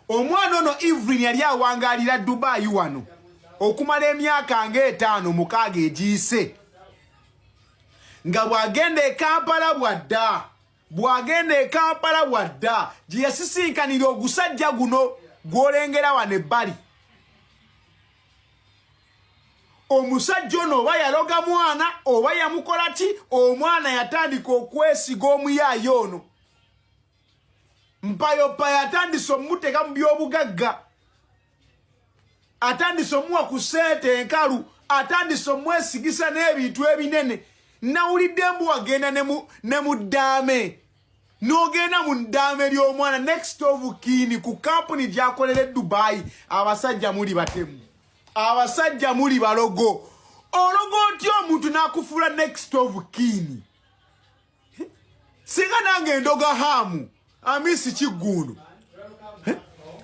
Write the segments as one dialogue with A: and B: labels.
A: Omwana ono Evelyn yali awangalira Dubai wano okumala emyaka nga etaano mukaaga egiyise nga bw'agenda e Kampala bw'adda bw'agenda e Kampala bw'adda gye yasisinkanira ogusajja guno gw'olengera wano ebbali omusajja ono oba yaloga mwana oba yamukola ki omwana yatandika okwesiga omuyaaye ono mpayopayo atandise omumuteka mu byobugagga atandise omuwa ku sente enkalu atandise omwesigisa n'ebintu ebinene nawulidde mbu wagenda ne mu ddaame n'ogenda mu ddaame ly'omwana next of kini ku kampuni gyakolera edubayi abasajja muli batemu abasajja muli balogo ologo otya omuntu n'akufuula next of kini singa nange endoga haamu amisi kiggundu eh?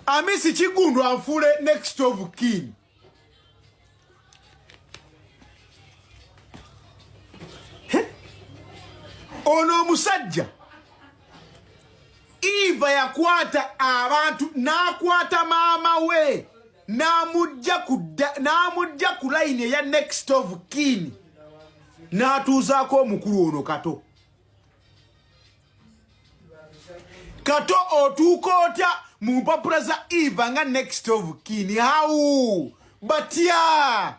A: amisi kiggundu anfuule next of king eh? ono omusajja eva yakwata abantu n'akwata maama we n'amujja ku n'amujja ku layini eya next of kin n'atuuzaako omukulu ono kato kato otuuka otya mu mpapula za eva nga next of kin how batya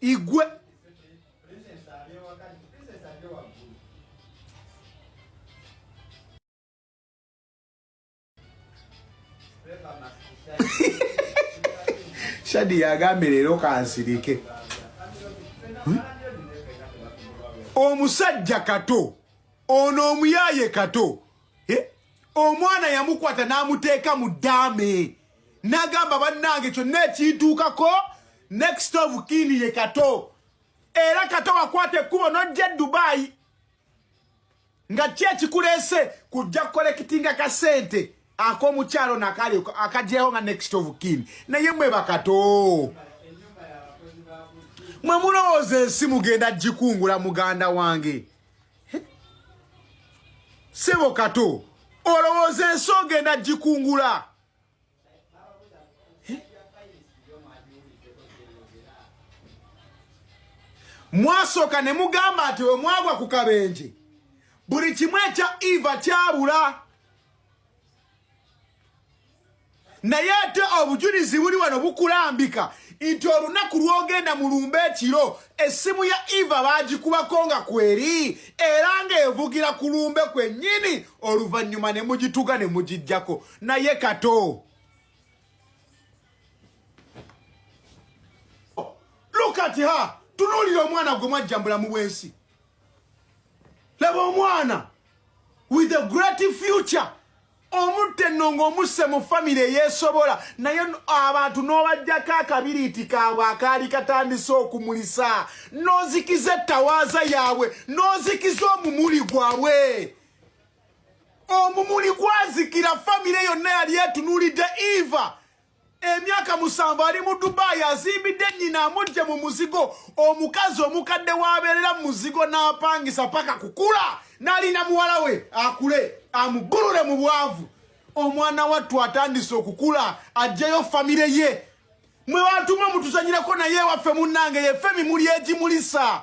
A: igwe shadi yagambye leero kansirike hmm? omusajja kato ono omuyaye kato eh? omwana yamukwata n'amuteeka mu daame nagamba bannange kyonna ekintuukako next of kin ye kato era kato wakwata ekkubo nojja e dubayi nga ki ekikuleese kujja kukolekitinga kasente ak'omukyalo nakali akagyewo nga next of kin naye mwe bakato mwe mulowooza ensi mugenda gikungula muganda wange sebo kato olowooza ensi ogenda gikungula mwasooka ne mugamba nti we mwagwa ku kabenje buli kimu ekya eva kyabula naye ate obujulizi buli wano bukulambika nti olunaku lwogenda mu lumba ekiro essimu ya eva bagikubako nga kweri era ng'evugira ku lumbe kwennyini oluvannyuma ne mugituga ne mugijjako naye kato lukati ha tunuulira omwana gwe mwajjambula mu bwensi laba omwana with a great future omutte nno ng'omusse mu famire eyeesobola naye abantu n'obajjako akabiriiti kaabwe akaali katandise okumulisa n'ozikiza ettawaaza yaabwe n'ozikiza omumuli gwabwe omumuli gwazikira famire yonna yali etunulidde eva emyaka musanvu ali mu dubayi azimbidde nyina amujje mu muzigo omukazi omukadde wabeerera mu muzigo n'apangisa paka kukula nalina muwala we akule amubulule mu bwavu omwana wattu atandise okukula ajjeyo famire ye mwe batuma mutuzanyirako naye ewaffe munnange yefe mimuli egimulisa